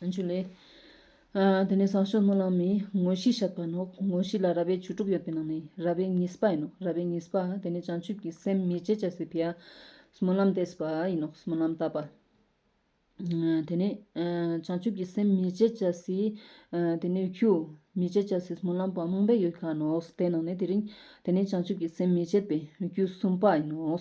བཅུ་ལས། དེ་ནས་ཟངས་ཤོག་སྣོད་ལངས་མི་ངོ་བཞི་བཞག་པ་ནོ། ངོ་བཞི་ལ་ར་བའི་བཅུ་དྲུག་ཡོད་པའི་ནང་ནས་ར་བའི་གཉིས་སྤ་ཡིན་ནོ། ར་བའི་གཉིས་སྤ། དེ་ནས་བྱང་ཆུབ་ཀྱི་སེམས་མི་བྱེད་བྱ་སའི་ཕྱིར། སྨོན་ལམ་བཟླས་པ་ཡིན་ནོ། སྨོན་ལམ་བཏབ་པ། དེ་ནས་བྱང་ཆུབ་ཀྱི་སེམས་མི་བྱེད་བྱ་སའི། དེ་ནས་ཁྱུ། མི་བྱེད་བྱ་སའི་སྨོན་ལམ་བ་རྨོངས་པའི་ཡུལ་གང་ནོ། དེ་ནང་ནས་དེ་རིང། དེ་ནས་བྱང་ཆུབ་ཀྱི་སེམས་མི་བྱེད་པའི་ཁྱུ་གསུམ་སྤ་ཡིན་ནོ།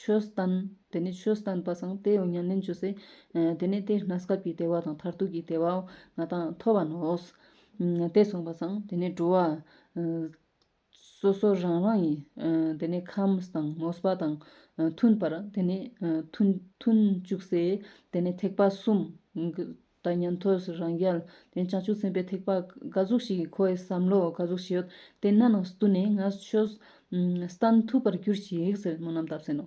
ཆོས་བསྟན། དེ་ནས་ཆོས་བསྟན་པ་སངས་ཏེ་ཉམས་ལེན་བཅུ་སྲིད། དེ་ནས་དེའི་ན་སྐབས་ཀྱི་བདེ་བ་དང་མཐར་ཐུག་གི་བདེ་བའོ། ང་དང་མཐོ་བ་ནོ། དེ་གསུངས་པ་སངས་དེ་ནས་འགྲོ་བ། སོ་སོ་རང་རང་ཡི། དེ་ནས་ཁམས་དང་མོས་པ་དང། མཐུན་པར་དེ་ནས་མཐུན། བཅུ་སྲིད། དེ་ནས་ཐེག་པ་གསུམ། དང་ཉན་ཐོས་སུ་རང་རྒྱལ། བྱང་ཆུབ་སེམས་དཔའི་ཐེག་པ་འགའ་གཟུགས་ཤིག་ཁོ་བོས་བསམ་མོ་འགའ་གཟུགས་ཤིག་ཡོད་དེ་སྣ་ནང་སྟུ་ནས་ང་ཆོས་སྟན་ཐུབ་པར་གྱུར་ཅིག་ཟེར་མོ་རྣམས་བསྟབས་ཟིན་ནོ།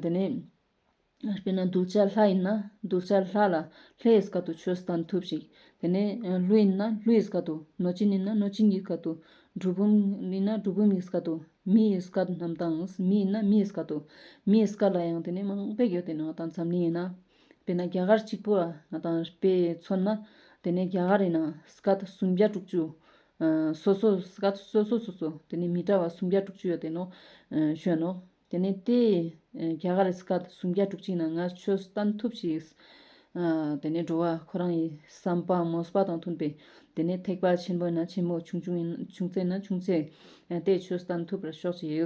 དེ་ནས་དཔེར་ན་གདུལ་བྱ་ལྷ་ཡིན་ན་གདུལ་བྱ་ལྷ་ལ་ལྷའི་བཀའ་དུ་ཆོས་སྟན་ཐུབ་ཅིག། དེ་ནས་ཀླུ་ཡིན་ན་ཀླུའི་བཀའ་དུ་གནོད་སྦྱིན་ཡིན་ན་གནོད་སྦྱིན་གྱི་བཀའ་དུ། གྲུལ་བུམ་ཡིན་ན་གྲུལ་བུམ་གྱི་བཀའ་དུ་མིའི་བཀའ་རྣམས་དང་མི་ཡིན་ན་མིའི་བཀའ་དུ། མིའི་བཀའ་ལ་ཡང་དེ་ནས་མང་པོ་ཡོད་དེ་ནང་དང་འཛམ་གླིང་ཡིན་ན། དེ་ན་རྒྱ་གར་གཅིག་པུ་ང་དང་དཔེ་མཚོན་ན། དེ་ནས་རྒྱ་གར་ཡིན་ན་སྐད་སུམ་བརྒྱ་དྲུག་ཅུ། སོ་སོ་སྐད་སོ་སོ་སོ་སོ་དེ་ནས་མི་འདྲ་བ་སུམ་བརྒྱ་དྲུག་ཅུ་ཡོད་དེ་ནོ། བཞོན་ནོ། དེ་ནས་དེ་རྒྱ་གར་སྐད་སུམ་བརྒྱ་དྲུག་ཅུ་ཡིན་ན་ང་ཆོས་གཏམ་ཐུབ་ཞིག། དེ་ནས་འགྲོ་བ་ཁོ་རང་ཡི་བསམ་པ་མོས་པ་དང་མཐུན་པའི། དེ་ནས་ཐེག་པ་ཆེན་པོ་ཡིན་ན་ཆེན་པོ་ཆུང་ཆུང་ཡིན་ན་ཆུང་ཚད་ཡིན་ན་ཆུང་ཚད། དེས་ཆོས་གཏམ་ཐུབ་པར་ཤོག་ཅིག།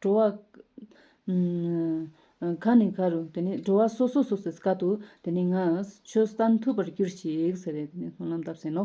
འགྲོ་བ། མཁའ་ནས་མཁའ་རུ། དེ་ནས་འགྲོ་བ་སོ་སོ་སོ་སོའི་སྐད་དུ། དེ་ནས་ངའི་ཆོས་བསྟན་ཐུབ་པར་གྱུར་ཅིག་ཟེར་བས་དེ་ནས་སྨོན་ལམ་བཏབ་ཟིན་ནོ།